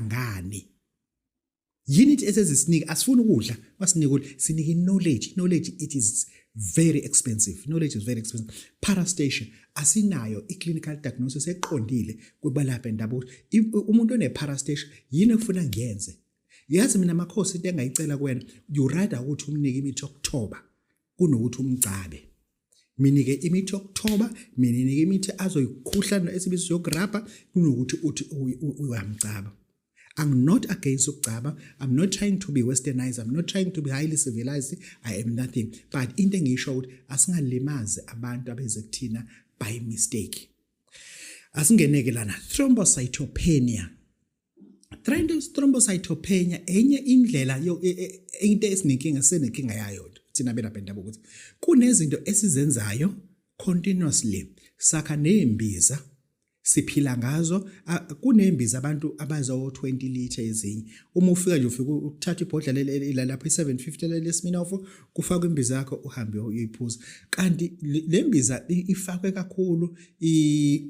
ngani yini ithi esezisinika asifuni ukudla basinika ukudla sinika knowledge knowledge it is very expensive knowledge is very expensive parastation asinayo i-clinical diagnosis eqondile kubalapha endabuko umuntu one-parastation yini efuna ngiyenze yazi mina makhosi into engayicela kuwena you rather ukuthi umnike imithi yokuthoba kunokuthi umgcabe minike imithi yokuthoba mininike imithi azoyikhuhlana esibizo yokurabha kunokuthi uthi uyamcaba I'm not against ukugcaba I'm not trying to be westernized I'm not trying to be highly civilized I am nothing but into engiyisho ukuthi asingalimazi abantu abeze kuthina by mistake asingeneke lana thrombocytopenia Dryness thrombocytopenia enye indlela yo e, e, into esinenkinga senenkinga yayo thina belapha endabuko ukuthi kunezinto esizenzayo continuously sakha nezimbiza siphila ngazo kunembiza abantu abazo 20 liter ezinye uma ufika nje ufika uthatha ibhodla leli lapha i750 leli sminofo kufaka imbiza yakho uhambe uyiphuza kanti lembiza ifakwe kakhulu i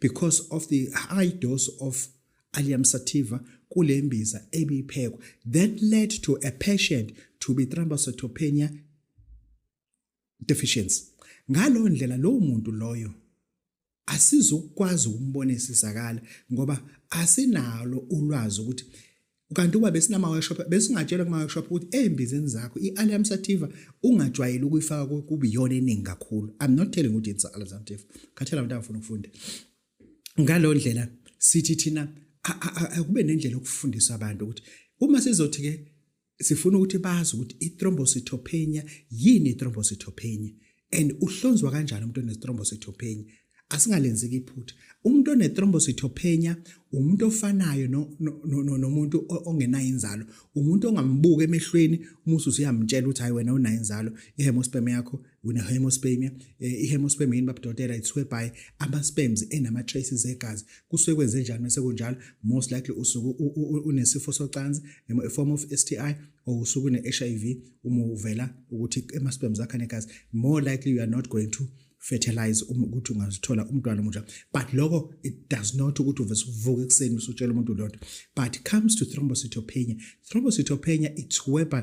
because of the high dose of allium sativa kule mbiza ebiphekwa that led to a patient to be thrombocytopenia deficiency ngalo ndlela lowo muntu loyo asizukwazi ukumbona isizakala ngoba asinalo ulwazi ukuthi kanti uba besinama workshop besingatshelwa kuma workshop ukuthi ezimbizeni zakho iAlium sativa ungajwayeli ukuyifaka kuba iyona eningi kakhulu i'm not telling ukuthi it's Alium sativa khathela abantu abafuna ukufunda ngalo ndlela sithi thina akube nendlela yokufundisa abantu ukuthi uma sizothi ke sifuna ukuthi bazi ukuthi ithrombocytopenia yini ithrombocytopenia and uhlonzwa kanjani umuntu onethrombocytopenia asingalenzeki iphutha umuntu onethrombocytopenia umuntu ofanayo nomuntu ongenayo inzalo umuntu ongambuka emehlweni umuthi usuyamtshela ukuthi hayi wena unayo inzalo ihemosperm yakho wena hemospermia eh, ihemosperm yini babudotela ithiwe by ama-sperms enama-traces egazi kusuke kwenze njani mese kunjalo most likely usuke unesifo socansi a form of STI or usuke ne-hiv uma uvela ukuthi ama-sperm zakho anegazi more likely you are not going to fertilize uma ukuthi ungazithola umntwana omusha but lokho it does not ukuthi uvese uvuke ekuseni usutshela umuntu lonto but comes to thrombocytopenia thrombocytopenia it's whereby